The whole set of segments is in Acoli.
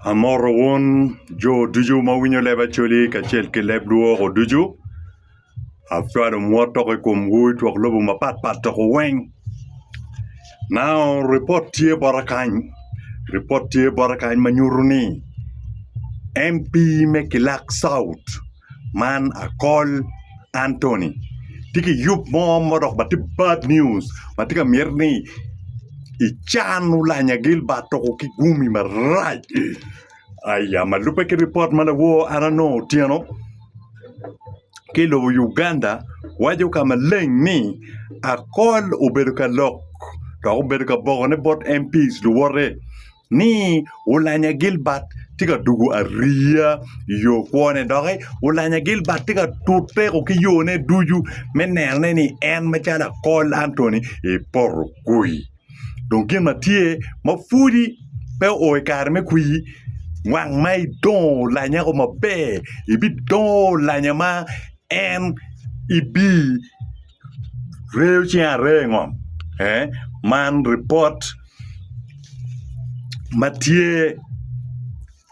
Amoto wun jo ducu ma winyo leb Acholi kacel ki leb lwoko ducu. Acwalo mwot tok i komwu i twok lobo mapat pat tok weng. Now ripot tye bota kany, ripot tye bota kany ma nyuto ni MP me Kilak South, Man akol Antony tye ki yub mo ma odok bati bad news ma tye ka myero ni ican olanya Gilbert toko ki gumi marac aya ma lube ki ripot ma lawo an anongo otyeno ki lobo Uganda waco ka maleng ni akol obedo ka lok dok obedo ka bokone bot MP luwote. ni Ulanya Gilbert tye ka dwogo ariya i yo kwone doki Ulanya Gilbert tye ka tut teko ki yone ducu me nenone ni en macalo akol Antony epoto kwir dong gin ma tye ma pwodi pe o i kare me kwir wang ma idongo Ulanya ko maber ibidongo Ulanya ma en ibi Ryeyo cing aree i ngom ee man ripot ma tye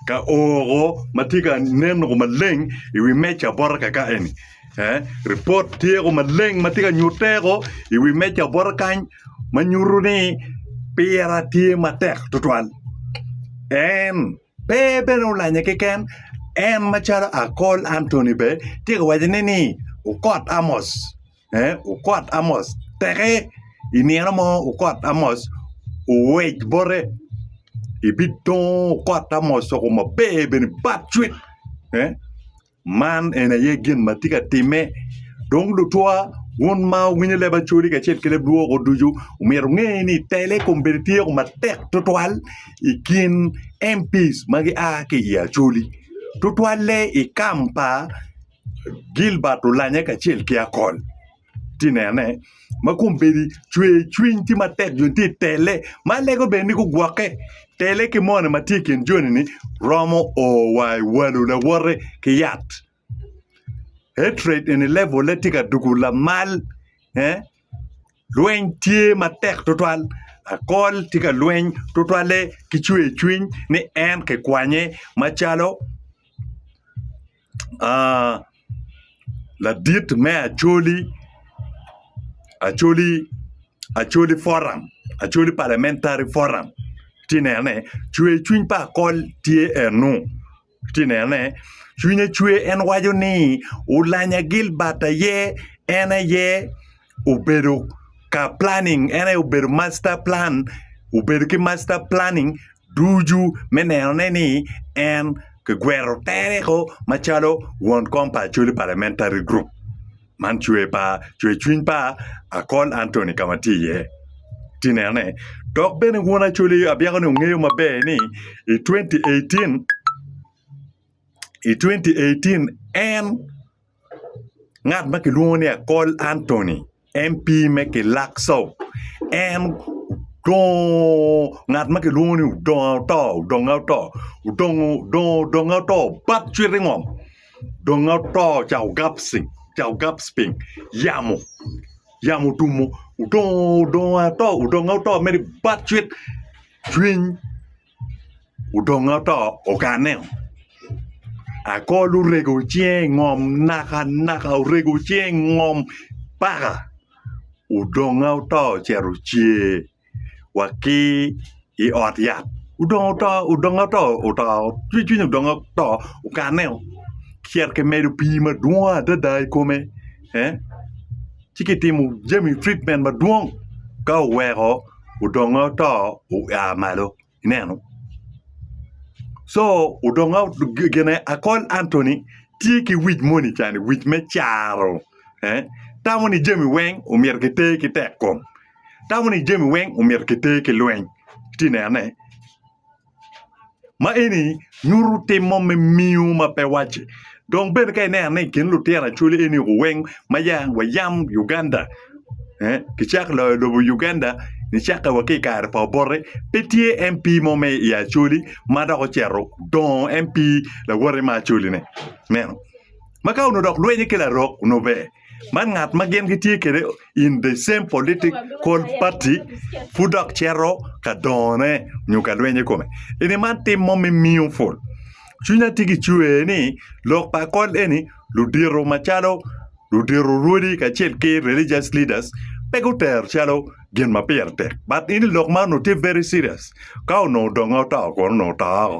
ka oko ma tye ka nen oo maleng i wi meja bota kaka eni ee ripot tye oo maleng ma tye ka nyutte oo i wi meja bota kany ma nyutu ni pire tye matek tutwal en Pe bene olanya keken, en macalo Akol Antony bene tye ka waco ne ni okot Amos, ee okot Amos teke i nino mo okot Amos owec bote ibitongo okot Amos oko maber bene bad cwit. Man eni aye gin ma tye ka timme. Dong lutwa, wun ma wuwinyo leb Acholi kacel ki leb lwoko ducu, omyero wunge ni tele kombeddi tyeko matek twatwal i kin MPs ma gia ki i Acholi, twatwalle i kam pa Gilbert Olanya kacel ki Akol. tye nene ma kombeddi cwer cwiny tye matek dong tye tele ma lego bene ni gugwoke tele ki moni ma tye i kin joni ni romo o wa i walo lawote ki yat heart rate eni levole tye ka dugo lamal lweny tye matek tutwal akol tye ka lweny tutwalle ki cwer cwiny ni en kikwanye macalo ladit me Acholi, Acholi, Acholi foram Acholi parliamentary foram atye ka neno cwer cwiny pa akol tye enu atye ka neno ne cwinye cwer en waco ni Oulanya Gilbert aye en aye obedo ka planning en aye obedo masta plan obedo ki masta planning ducu me neno ne ni en kigwero tereo macalo won kom pa Acholi Parliamentary Group man cwer pa cwer cwiny pa Akol Anthony ka ma tye iye tye inene dok bene won Acholi abyeko ni ongeyo maber ni i twenty eighteen i twenty eighteen en Ngat ma kilwongo ni Akol Antony, MP me Kilak South en dongo ngat ma kilwongo ni odongo oto odonge oto odongo dongo odonge oto bap cwit i ngom donge oto ca ogap ci ca ogap piny yamo yamo otumo odongo odongo ato odonge ato mere bap cwit cwiny odonge oto ogane o akol orego cinge i ngom naka naka orego cinge i ngom paka odonge oto ocito cer wa ki i ot yat odonge oto odonge oto oto cwiny cwiny odonge oto ogane o cito ki medo pii madwong adada i kome ci kitimo jami treatment madwong ka oweko odonge oto oa malo ineno co odonge gine akol Anthony tye ki wic moni cani wic me caro tamo ni jami weng omyero kiter ki tekkom tamo ni jami weng omyero kiter ki lweny iti nene Ma eni nyuto tim mo me miyo ma pe wacce dong bene ka ineno ni i kin lutino Acholi eni weng ma ya wa yam Uganda kicako loyo lobo Uganda nicako wa ki i kare pa Obote pe tye MP mo ma i Acholi ma dok ocito odongo MP lawote ma Acholi-ni ineno ma ka onongo dok lwenye ki larok onongo ber man ngat ma gin gitye kwede in the same political party pud dok cito ka dongone nyo ka lwenye kome eni man tim mo me miyo pol cwinya tye ki cwer ni lok pa kol eni ludito macalo ludito rwodi kacel ki religious leaders pe gutero calo gin ma pire tek but in lok man onongo tye very serious ka onongo donge oto kono onongo oto woko.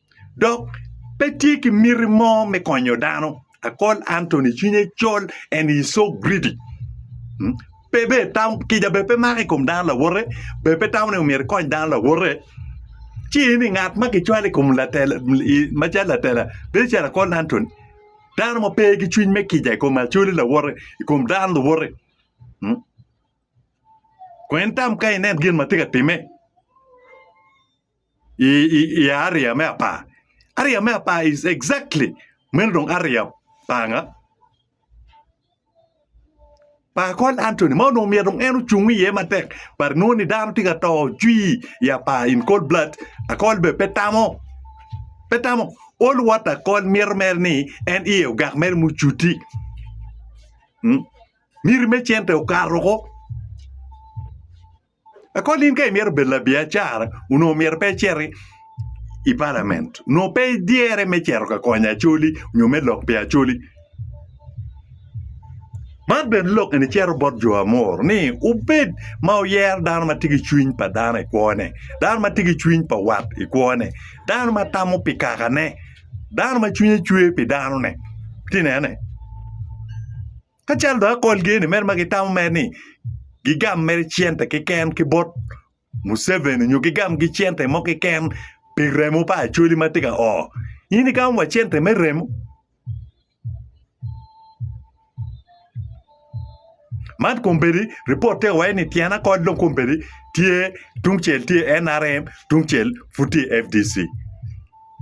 dok pe tye ki miti mo me konyo dano akol Antony cwinye col and he is so greedy pe bene tamo kica bene pe mako i kom dano lawote bene pe tamo ni myero ikony dano lawote ci iyini ni ngat ma kicwalo i kom latela macalo latela bedo calo akol Antony dano ma pe ki cwiny me kica i kom acwali lawote i kom dano luwote kong itam ka ineno gin ma tye ka timme. i aria me apar, aria me apar is exactly meno dong aria panga pa akol Anthony ma onongo myero dong en ocung iye matek but nongo ni dano tye ka to cwii i apar in cold blood akol bene pe tamo pe tamo all what akol mito mere ni en iye ogak mere mucuti miti me cente okato woko. Akol in ka imyero bed labiacara onongo myero pe iciti i palament onongo pe idyere me cito ka konyo acoli nyo me lok pi acoli man bene lok eni cito bot jo amor ni wubed ma wuyero dano ma tye ki cwiny pa dano i kwone dano ma tye ki cwiny pa wat i kwone dano ma tamo pi kakane dano ma cwinye cwer pi danone iti nene. Ka calo dong akol geni mere ma gitamo mere ni gigam mere cente keken ki bot Museveni nyo gigam gi cente mo keken pi remo pa Acholi ma tye ka o, in igamo wa cente me remo? Man kombeddi ripot tye ka waco ni tyen akol dong kombeddi tye tungcel tye NRM tungcel pud tye FDC.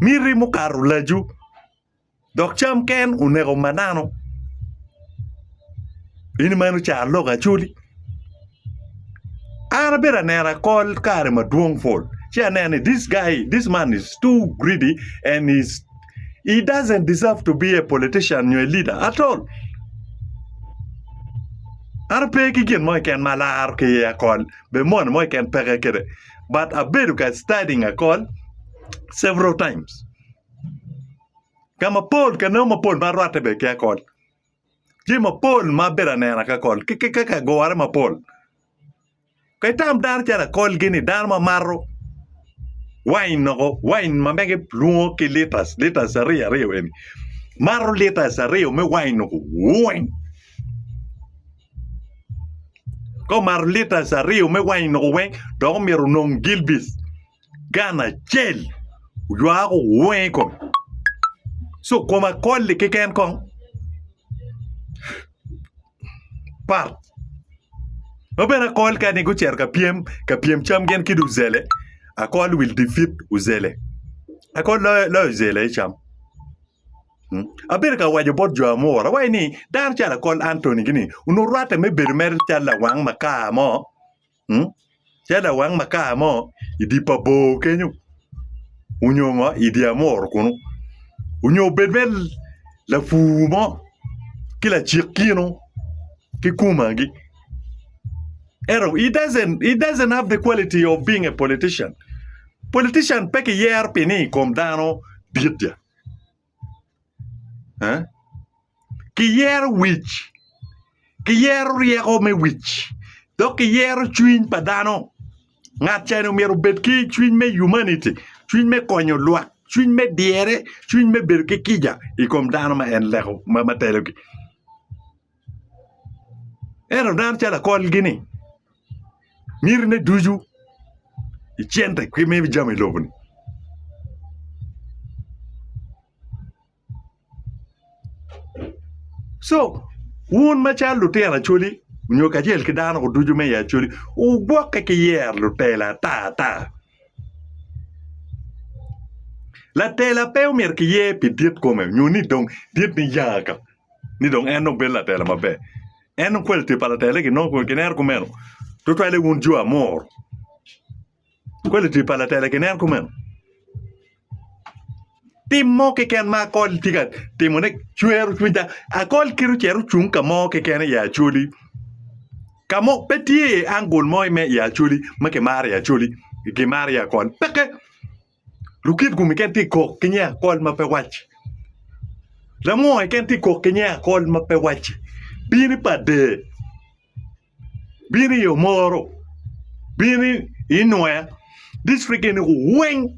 Miti mukato laju. Dok cam ken oneko manano in meno ca aloko acoli an abedo aneno akol kare madwong pol ci aneno ni this guy this man is too greedy and is he doesn't deserve to be a politician nyo a leader at all an pe ki gin mo keken ma alaro ki iye akol be moni mo keken peke kede but abedo ka studying akol several times. Ka mapol ka nongo mapol ma rwatte bene kia kol jami mapol ma abedo aneno akia kol ki kaka gure mapol ka itam dano calo akolgi ni dano ma mato wain noko wain ma mege lwongo ki litas litas ariya ariya eni mato litas ariya me wain noko wooiny ka omato litas ariya me wain noko weng dok omyero onong gilbis gan acel oywaa ko weng i kome ci okomo akol-li keken kong pat ma bene akol kani gucito ka pyem ka pyem cam gin ki dong ozele akol will defeat ozele akol loyo ozele i cam abedo ka waco bot jo amuru awaco ni dano calo akol Anthony gini onongo rwatte me bedo mere calo lawang makar mo. Tye lawang makar mo i dye pa bor kenyo nyo ngo i dye amuru kunu nyo obed mere lapur mo ki lacik kinu ki kumagi ento he doesn't have the quality of being a politician, politician pe kiyero pi ni i kom dano dit. kiyero wic, kiyero ryeko me wic dok kiyero cwiny pa dano ngat ca ni myero obed ki cwiny me humanity cwiny me konyo lwak cwiny me dyere cwiny me bedo ki kica i kom dano ma en leko ma telogi. Ento dano calo akolgi ni miti ne ducu i cente ki me jami i loboni. Co wun macalo lutino acwali nyo kacel ki dano ducu me i acwali wugwokke ki yero lutela ata ata. Latela pe omyero ki ye pi dit kome nyo ni dong dit niya ka ni dong en dong bedo latela maber en dong quality pa latela ni nongo ki neno kumeno tutwale wun jo amor quality pa latela ki nen kumeno. Tim mo keken ma akol tye ka timone cwero cwinya, akol kite ocito ocung ka mo keken i Acholi ka mo pe tye iye angul mo me i Acholi ma kimaro i Acholi kimaro iye akol peke Lukiv kome keken tye ka kok ki nge akol ma pe wacci Lamwonge keken tye ka kok ki nge akol ma pe wacci bini pa der. bino i Omoro, bino i Nwea, dictrict eni weng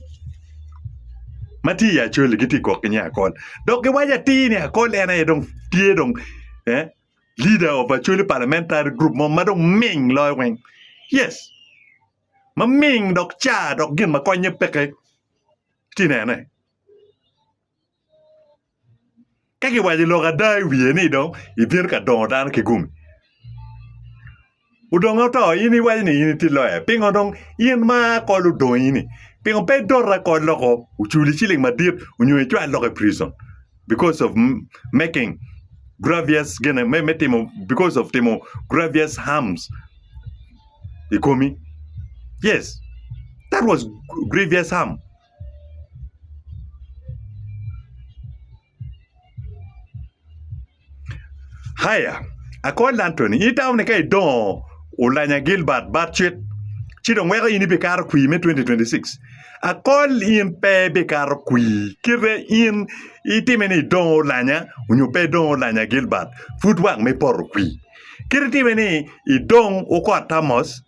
ma tye i Acholi gitye ka gwok ki nge Akol dok giwaco atir ni Akol en aye dong tye dong leader of Acholi Parliamentary Group mo ma dong ming loyo weng. Yes, maming dok car dok gin ma konye peke. Iti nene. Ka kiwaco lok ada i wiye ni dong ibino ka dongo dano ki gumi. Odonge oto in iwaco ni in itye loya. Pingo dong in ma kol odongi ni pingo pe idota kol loko oculi ciling madit onyo icwal loko i prison because of making gravious gene me me timo because of timo gravious harms i komi. Yes, that was gravious harm. Aya, akony lanto-ni, in itamo ni ka idongo olanya Gilbert Burchett ci dong weko in ibikato kwir me 2026? Akol in pe ibikato kwir kite in itime ni idongo olanya nyo pe idongo olanya Gilbert pud wang me poto kwir. Kit itime ni idong okot Amos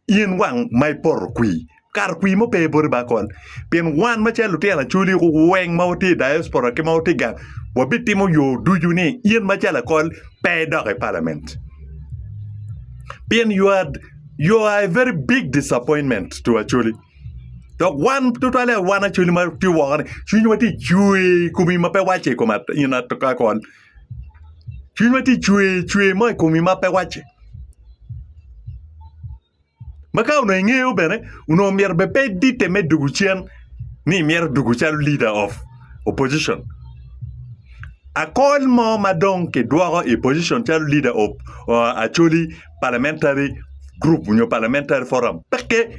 In wang ma ipoto kwi, kato kwi mo pe i boti baka kwan. Pien wan macalo lutino acoli weng ma watye i diaspora ki ma watye gang, wabitimo yo ducu ni in macalo akol pe idok i Parliament. Pien you are, you are a very big disappointment to Acholi. Dok wan tutwalle wan Acholi ma tye woko-ni, cwinywa tye cwer i komi ma pe wacce i kom in Akol. Cwinywa tye ka cwer cwer mo i komi ma pe wacce ma ka onongo ingeyo bene onongo myero bene pe iditte me dwogo cen ni imyero idwogo calo leader of opposition akol mo ma dong kidwoko i position calo leader of Acholi Parliamentary Group nyo Parliamentary Forum peke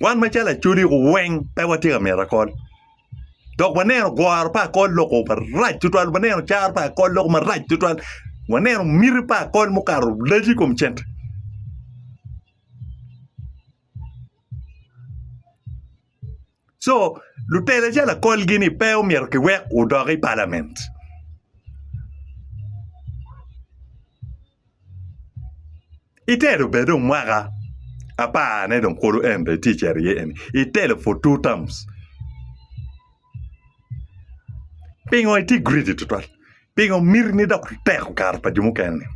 wan macalo Acholi weng pe watye ka mito akol. dok waneno goro pa akol loko marac tutwal waneno caro pa akol loko marac tutwal waneno miti pa akol mukato laco i kom cente. Co lutela calo akolgi ni pe omyero kiwek odok i palament. itelo bene dong mwaka apar ne dong kulu en bene tye cito iye eni itelo for two terms pingo itye greedy tutwal pingo miti ni dok itek okato pa jo mukene ni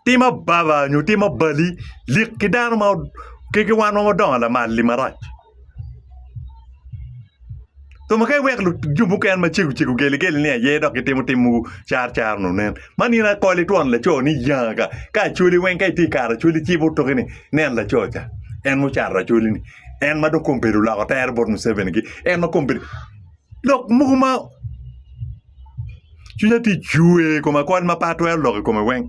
tim ababa nyo tim abali lik ki dano ma ki wan ma wadongo lamal-li marac. Thon ka iweko luco mukene ma cego cego geli geli ni aye dok gitimo tim mogo car car nongo nen man in akoli twon laco ni yanga ka ka acholi weng ka itye i kare acholi ci ibut toki ni nen laco ca en ma ocato acholi ni en ma dong kong bedo oloko tere bot Museveni gi en ma kong bedo lok mogo ma cwinya tye cwer i kome akol ma pe atwero lok i kome weng.